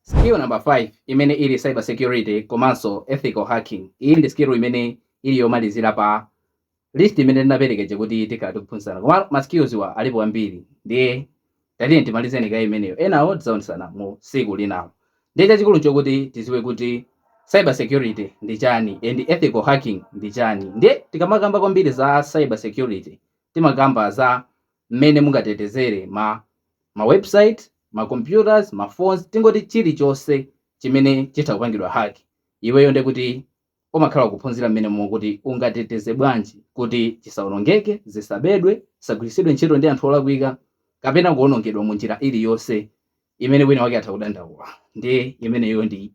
Skill number 5 imene ili cyber security komanso ethical hacking, iyi ndi skill imene ili yomalizira pa list imene ndinapereka ija kuti tikhala tikuphunzirana koma ma skills-wa alipo ambiri ndiye tatiyeni timalizeni kaye imeneyo enawo tidzaonesana mu siku linalo ndiye chachikulu nchokuti tiziwe kuti cyber security ndi chani and ethical hacking ndi chani ndiye tikamakamba kwambiri za cyber security timakamba za mmene mungatetezere ma website, ma computers, ma phones tingoti chilichonse chimene chitha kupangidwa hack iweyo ndekuti umakhala ukuphunzira mmene mokuti ungateteze bwanji kuti chisaonongeke, zisabedwe, zisagwiritsidwe ntchito ndi anthu olakwika kapena kuonongedwa mu njira iliyonse imene wina wake atha kudandaula ndiye imeneyo ndi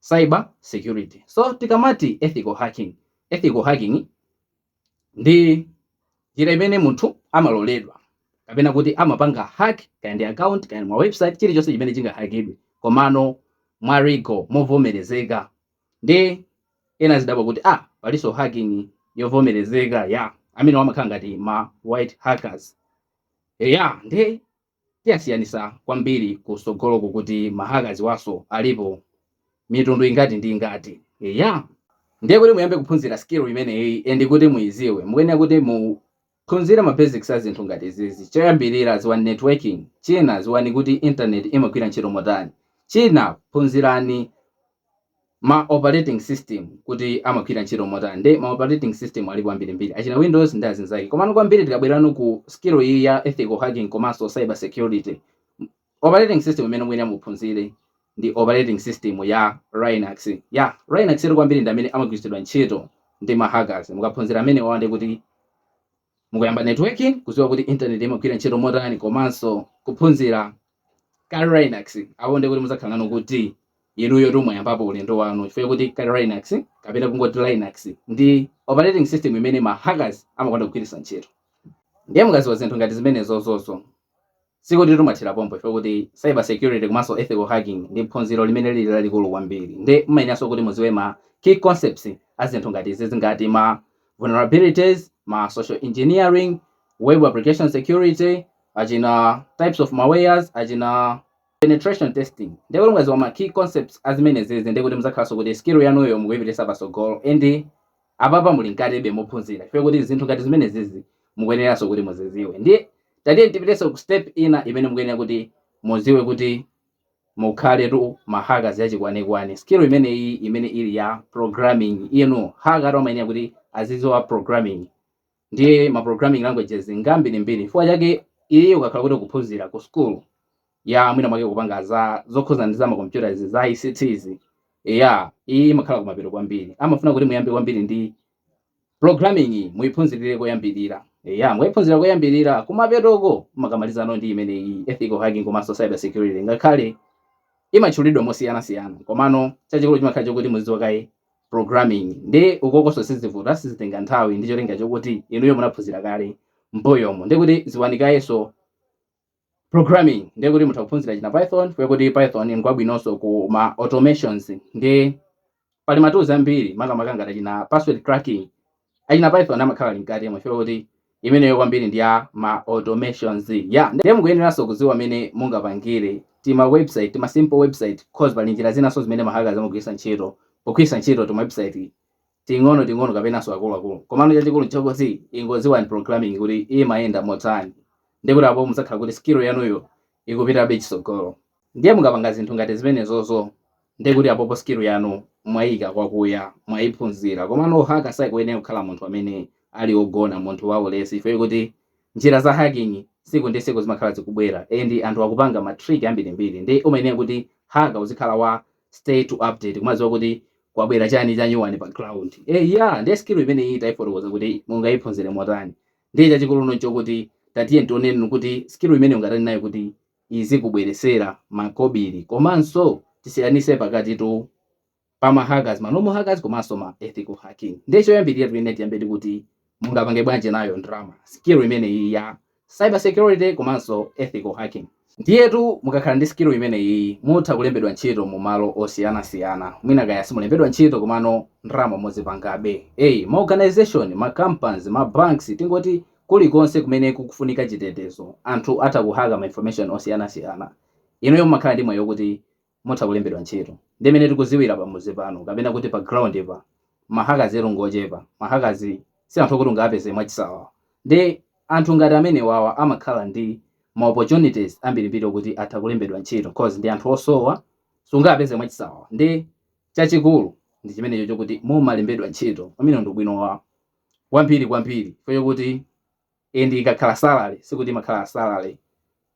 cyber security. So tikamati ethical hacking, ethical hacking, ndi njira imene munthu amaloledwa kapena kuti amapanga hack kaya ndi account kaya ndi ma website chilichonse chimene chingahakidwe komano mwa legal movomerezeka nde ena azidabwa kuti ah palinso hacking yovomerezeka ya amenewo amakhala ngati ma white hackers ya nde tizasiyanisa kwambiri kusogoloku kuti ma hackers-wanso alipo mitundu ingati ndi ingati eya ndiye kuti muyambe kuphunzira skill imeneyi and kuti muiziwe mukuyenera kuti mu phunzire ma basics a zinthu ngati izizi choyambirira ziwani networking china ziwani kuti internet imagwira ntchito motani china phunzirani ma operating system kuti amagwira ntchito motani nde ma operating system alipo ambirimbiri achina windows ndi azinzake komano kwambiri tikabwera ku skill iyi ya ethical hacking komanso cyber security operating system imene muyenera muphunzire ndi operating system ya Linux ya Linux eti kwambiri ndi amene amagwiritsidwa ntchito ndi ma hackers mukaphunzira amenewo and kuti Mukuyamba network, kuziwa kuti internet imagwira ntchito motani komanso kuphunzira Kali Linux, apo ndiye kuti muzakhala nanu kuti inuyo tu mwayambapo ulendo wanu chifukwa chakuti Kali Linux kapena kungoti Linux ndi operating system imene ma hackers amakonda kugwiritsa ntchito. Ndiye mukaziwa zinthu ngati zimenezozozo, Sikutitu mwathera pompo chifukwa kuti cyber security komanso ethical hacking ndi phunziro limene lili lalikulu kwambiri nde mumayeneranso kuti mudziwe ma key concepts a zinthu ngati izizi ngati ma vulnerabilities, ma social engineering, web application security, achina types of malwares, achina penetration testing. Nde kuti mukadziwa ma key concepts a zimenezizi ndekuti mudzakhalanso kuti skill yanuyo mukuipititsa patsogolo and Apapa muli mkatebe mophunzira chifukwa kuti zinthu ngati zimenezizi mukuyeneranso kuti muziziwe ndiye tatiyeni tipitenso ku step ina imene mukuyenera kuti muziwe kuti mukhaletu ma hackers achikwanekwane skill imeneyi imene ili ya programming inu hacker tu amayenera kuti aziziwa programming Ndiye ma programming languages ndi ambirimbiri. Chifukwa chake iye ukakhala kuti ukuphunzira ku school ya mwina mwake kupanga za zokhudzana ndi za makompyuta izi za ICT izi, eya iyi imakhala kumapeto kwambiri. Amafuna kuti muyambe kwambiri ndi programming iyi muiphunzirire koyambirira. Eya mukaiphunzira koyambirira kumapetoko mumakamalizano ndi imeneyi ethical hacking komanso cyber security ngakhale imatchulidwa mosiyanasiyana komano chachikulu chimakhala chokuti muzidziwa kaye programming nde ukokonso sizivuta sizitenga nthawi ndi cholinga chokuti inuyo munaphunzira kale mbuyomu nde kuti dziwani kayenso programming nde kuti mutha kuphunzira china python fukwa choti python ngwabwinonso ku ma automations nde pali ma tools ambiri makamaka ngati china password cracking achina python amakhala ali mkatimo chifukwa kuti imeneyo kwambiri ndi ya ma automations ya ndiye mukuyeneranso kudziwa mene mungapangire tima website tima simple website cause pali njira zinanso mahaka zamagwiritsa ntchito pogwiritsa ntchito tima website ting'ono ting'ono kapenanso akuluakulu komano chachikulu nchakuti ingodziwani programming kuti imayenda motani ndikuti apo mudzakhala kuti skill yanuyo ikupitabe chitsogolo ndiye mukapanga zinthu ngati zimenezozo ndiye kuti apopo skill yanu mwayika kwakuya mwayiphunzira komano ohaka sakuyenera kukhala munthu amene ali ogona munthu waulesi chifukwa kuti njira za hacking siku ndi siku zimakhala zikubwera and anthu akupanga ma trick ambirimbiri ndiye umayenera kuti haka uzikhala wa up to date kumadziwa kuti kwabwera chani chanyuwani pa ground eh ya ndiye skill imeneyi tayifotokoza kuti mungayiphunzire motani Ndiye chachikuluno nchokuti tatiyeni tioneno kuti skill imeneyi ungatani nayo kuti izikubweresera makobili komanso tisiyanise pakatitu pa ma hackers ma normal hackers komanso ma ethical hacking. Ndiye choyambilira tikuyenera tiyambe ndi kuti mungapange bwanji nayo ndrama skill imeneyi ya cyber security komanso ethical hacking. Ndiyetu mukakhala ndi skill imeneyiyi mutha kulembedwa ntchito mu malo osiyanasiyana mwina kaya simulembedwa ntchito komano ndalama muzipangabe. Eya. Ma organisation, ma companies, ma banks tingoti kulikonse kumene kukufunika chitetezo anthu atha kuhaka ma information osiyanasiyana inuyo mumakhala ndi mwayi okuti mutha kulembedwa ntchito. Ndi mene tikudziwira pa mudzi pano kapena kuti pa ground pa, ma hackers tu ngochepa. Ma hackers si anthu okuti ungawapeze mwachisawawa. Ndi anthu ngati amenewawa amakhala ndi ma opportunities ambirimbiri okuti atha kulembedwa ntchito coz ndi anthu osowa, sungawapeze mwachisawawa. Ndi chachikulu ndi chimenecho chokuti mumalembedwa ntchito, umenewo ndi ubwino wa ambiri kwambiri chifukwa chokuti and ikakhala salary sikuti imakhala salary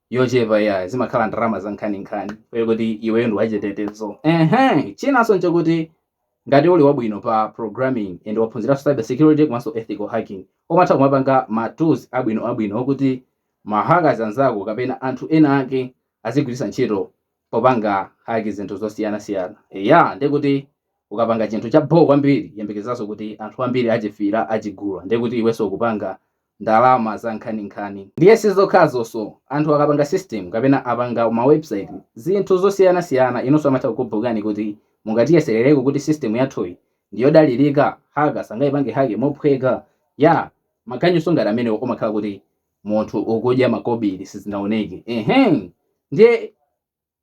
yochepa iyayi, zimakhala ndalama za nkhaninkhani poti iweyo ndi wachitetezo ehe chinanso nchakuti ngati uli wabwino pa programming and waphunziranso cyber security komanso ethical hacking umatha kumapanga ma tools abwino abwino okuti ma hackers anzako kapena anthu ena ake azigwiritsa ntchito popanga haki zinthu zosiyanasiyana eya ndiye kuti ukapanga chinthu cha bho kwambiri yembekezera kuti anthu ambiri achifuna achigula ndiye kuti iwenso ukupanga ndalama za nkhaninkhani. Ndiye si zokhazonso, anthu akapanga system kapena apanga ma website zinthu zosiyanasiyana inunso, amatha kukubhukani kuti mungatiyeserereko kuti system yathuyi ndi yodalirika, hacker sangayipange hack mophweka, yah maganyunso ngati amenewo umakhala kuti munthu ukudya makobili sizinaoneke, ehem ndiye.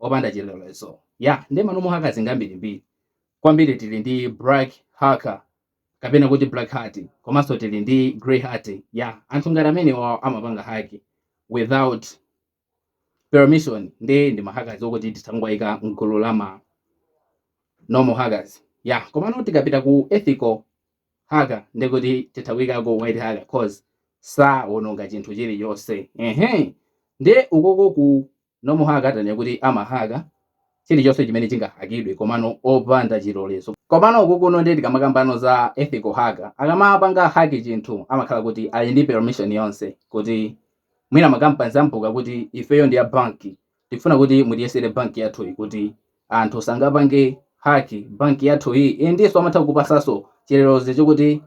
opanda chilolezo ya ndi ma normal hackers ngambirimbiri kwambiri tili ndi black hacker kapena kuti black hat komanso tili ndi grey hat ya anthu ngati amenewa amapanga haki without permission nde ndi ma hackers okuti titha kuwayika mgulu la ma normal hackers ya komano tikapita ku ethical hacker ndekuti titha kuyikako white hacker cause sawononga chinthu chilichonse ehe ndi ukoko ku Normal hacker tanene kuti amahaka chilichonse chimene chingahakidwe komano opanda chilolezo. Komano ukukuno ndiye tikamakamba za ethical hacker, akamapanga hack chinthu amakhala kuti ali ndi permission yonse kuti mwina ma companies amubhuka kuti ifeyo ndi a bank tikufuna kuti mutiyesere bank yathuyi kuti anthu sangapange hack bank yathuyi, eh ndiyenso amatha kukupatsanso chilolezo chokuti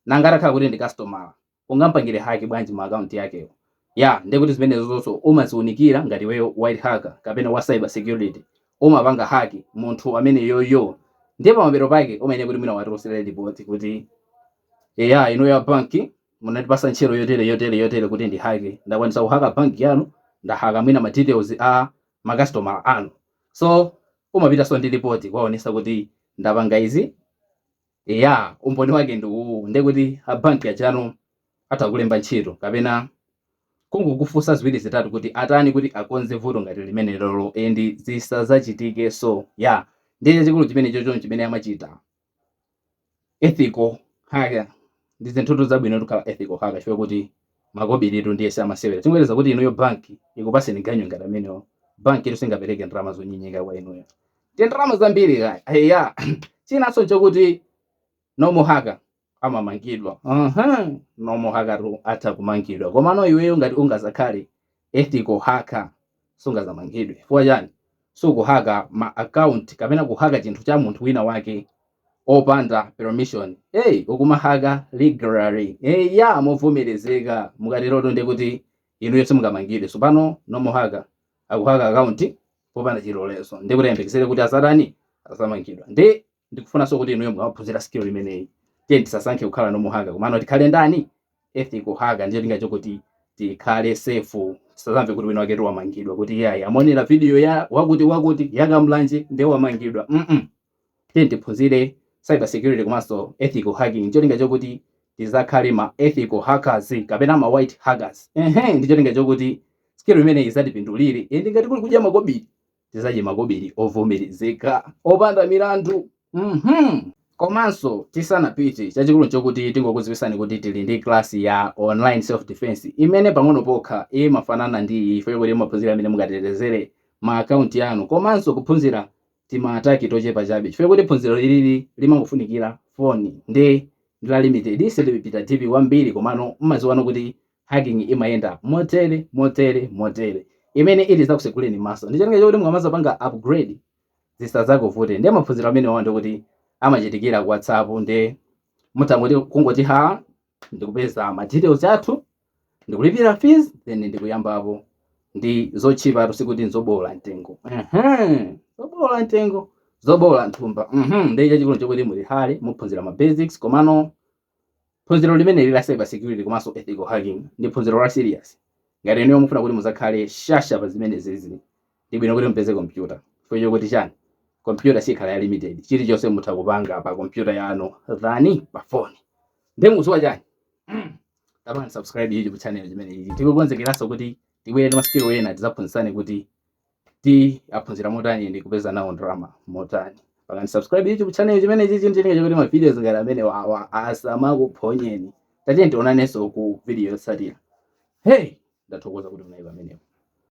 nanga atakhala kuti ndi customer. ungampangire hack bwanji ma account yakewo ya ndekuti zimenezozonso umaziunikira ngati iweyo white hacker kapena wa cyber security umapanga hack munthu ameneyoyo ndiye pamapeto pake umayenera kuti mwina wapititsa report kuti eya inu a banki munatipasa ntchito yotere yotere yotere kuti ndihake ndakwanisa kuhaka banki yanu ndahaka mwina ma details a makastomala anu so umapitanso ndi report kuwaonesa kuti ndapanga izi Eya, umboni wake ndi uwu, ndiye kuti a banki ajano atha kukulemba ntchito kapena kungokufunsa ziwiri zitatu kuti atani kuti akonze vuto ngati limenelolo and zisazachitikeso. Ya, ndiye chachikulu chimenechocho n'chimene amachita ethical hacker. Ndi zinthutu zabwinotu kukhala ethical hacker chifukwa kuti Makobiritu ndiye si amasewera. Tingoyerekeza kuti inuyo banki ikupatseni ganyu ngati amenewo. Bankitu singapereke ndalama zonyenyeka kwa inuyo. Ndiye ndalama zambiri kaya. Eya. Chinanso n'chakuti normal hacker amamangidwa. Aha. Normal hackertu atha kumangidwa. Komano iweyo ngati ungadzakhale ethical hacker sungazamangidwe chifukwa chani sukuhaka ma account kapena kuhaka chinthu cha munthu wina wake opanda permission hey ukumahaka legally hey ya movomerezeka mukateroto ndiye kuti inuyo simungamangidwe tsopano normal hacker akuhaka account popanda chilolezo ndiye kuti ayembekezere kuti azatani azamangidwa ndi ndikufunanso kuti inuyo mukaphunzira skill imeneyi tiye tisasankhe kukhala normal hacker komano tikhale ndani ethical hacker ndi cholinga choti tikhale safe tisazamve kuti wina wake wamangidwa kuti iyayi amaonera video ya wakuti wakuti yakamlanje ndiye wamangidwa mm -mm. tiye tiphunzire cyber security komanso ethical hacking ndi cholinga choti tizakhale ma ethical hackers kapena ma white hackers ehe ndi cholinga choti skill imeneyi izatipindulire ende ngati kuli kudya makobiri tizadye makobili ovomerezeka opanda milandu mmh komanso tisanapite chachikulu nchokuti tingokuziwisani kuti tili ndi class ya online self defence imene pang'ono pokha imafanana ndi iyi chifukwa chakuti timaphunzira mmene mungatetezere ma account anu komanso kuphunzira tima attack tochepa chabe chifukwa chakuti phunziro ilili limangofunikira phone nde ndi la limited sitipita deep kwambiri komano mmaziwako kuti Hacking imayenda motere, motere, motere. Imene ili izakuseguleni maso ndi cholinga chokuti mukamazapanga upgrade zisazakuvuteni. Ndiye maphunziro amenewa ndi oti amachitikira ku WhatsApp nde mutangoti kungoti ha ndikupeza ma details athu ndikulipira fees then ndikuyambapo. Ndi zotchipatu sikuti nzoboola mtengo. Ehem. Zoboola mtengo, zoboola nthumba. Mhm. Ndiye chachikulu nchokuti muli hale, muphunzira ma basics komano Phunziro limeneli la cyber security komanso ethical hacking ndi phunziro la serious. Ngati inuyo mufuna kuti muzakhale shasha pa zimenezizi ndi bwino kuti mupeze kompyuta chifukwa chokuti chani kompyuta sikhala ya limited chilichonse mutha kupanga pa kompyuta yanu than pa phone. Nde mukusowa chani? Pangani subscribe YouTube channel imeneyi tikukonzekeranso kuti tibwere ndi ma skill ena tizaphunzitsane kuti. tiyaphunzira motani ndi kupeza nawo ndalama motani pangani subscribe youtube channel imeneyi ndi cholinga chakuti mavideos ngati amenewawa asamakuphonyeni tatiyeni tionanenso ku video yotsatira hey ndathokoza kuti munali pamenepo